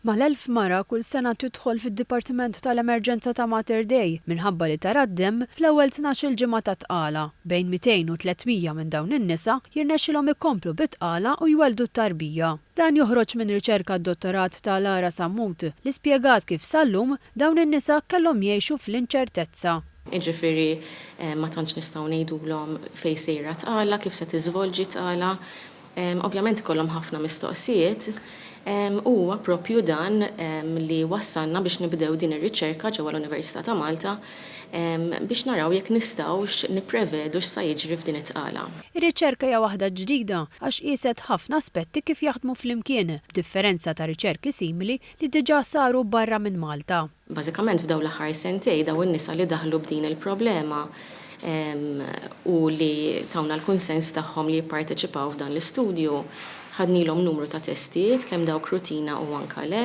Mal-elf mara kull sena tidħol fid-dipartiment tal-emerġenza ta' Mater Dei minħabba li tara d-demm fl-ewwel tnax-il ġimgħa ta' tqala. Bejn 200 u 300 minn dawn in-nisa jirnexxilhom ikomplu bit-tqala u jwelldu t-tarbija. Dan joħroġ minn riċerka dottorat ta' Lara Sammut li spjegat kif sal-lum dawn in-nisa kellhom jgħixu fl-inċertezza. Jiġifieri ma tantx nistgħu ngħidulhom fejn sejra t-tqala, kif se tiżvolġi t-tqala. Ovvjament ikollhom ħafna mistoqsijiet. U huwa proprju dan li wassalna biex nibdew din ir-riċerka ġewwa l-Università ta' Malta biex naraw jekk nistgħux nipprevedu x'sa jiġri f'din it-tqala. Ir-riċerka hija waħda ġdida għax qieset ħafna aspetti kif jaħdmu flimkien, b'differenza ta' riċerki simili li diġà saru barra minn Malta. Bażikament f'dawn l-aħħar sentejn dawn in-nisa li daħlu b'din il-problema u li tawna l-kunsens tagħhom li jipparteċipaw f'dan l-istudju, ħadnilhom numru ta' testijiet kemm dawk rutina u anka le,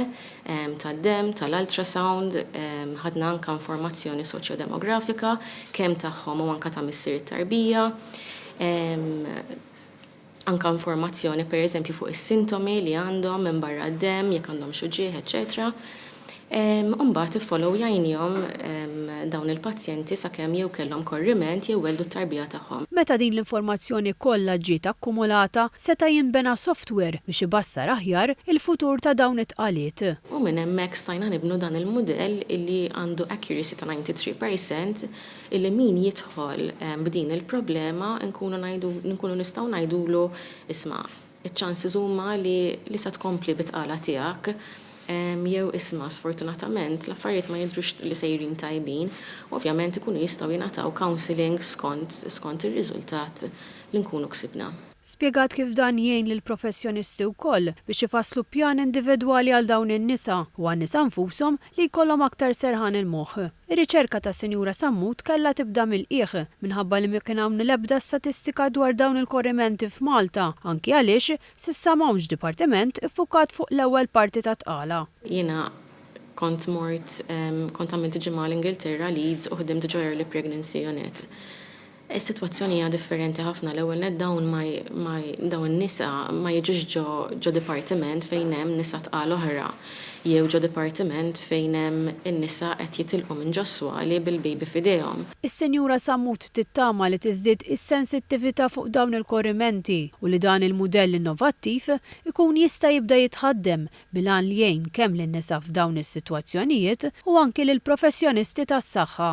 tad-demm, tal-ultrasound, ħadna anka informazzjoni soċjodemografika kemm tagħhom u anka ta' missier it-tarbija. anke informazzjoni pereżempju fuq is-sintomi li għandhom minbarra d-demm, jekk għandhomx uġigħ, eċċetera U mbagħad iffolowjajnihom dawn il-pazjenti sakemm jew kellhom korriment jew welldu t-tarbija tagħhom. Meta din l-informazzjoni kollha ġiet akkumulata, seta' jinbena software biex ibassar aħjar il-futur ta' dawn it-tqaliet. U minn hemmhekk stajna nibnu dan il-mudell li għandu accuracy ta' 93 percent illi min jidħol b'din il-problema nkunu ngħidu, nkunu nistgħu ngħidulu isma' iċ-chances huma li li se tkompli bit-tqala tiegħek jew isma' sfortunatament l-affarijiet ma jidhrux li sejrin tajbin u ovvjament ikunu jistgħu jingħataw counselling skont skont ir-riżultat li nkunu ksibna. Spjegat kif dan jgħin lill-professjonisti wkoll biex ifasslu pjan individwali għal dawn in-nisa u għan-nisa nfushom li jkollhom aktar serħan il-moħħ. Ir-riċerka tas-Sinjura Sammut kellha tibda mill-qiegħ, minħabba li ma kien hawn l-ebda statistika dwar dawn il-korrimenti f'Malta, anki għaliex s'issa m'hawnx dipartiment iffukat fuq l-ewwel parti tat-tqala. Jiena kont mort, kont għamilt ġimgħa l-Ingilterra, Leeds, u ħdimt ġo Early Pregnancy Unit. Is-sitwazzjoni hija differenti ħafna. L-ewwel nett dawn ma ma dawn in-nisa ma jiġux ġo ġo dipartiment fejn hemm nisa tqal oħra jew ġo dipartiment fejn hemm in-nisa qed jitilqu minn ġo s-swali bil-baby f'idejhom. Is-Sinjura Sammut tittama li tiżdied is-sensittività fuq dawn il-korrimenti u li dan il-mudell innovattiv ikun jista' jibda jitħaddem bil-għan li jgħin kemm lin-nisa f'dawn is-sitwazzjonijiet u anki lill-professjonisti tas-saħħa.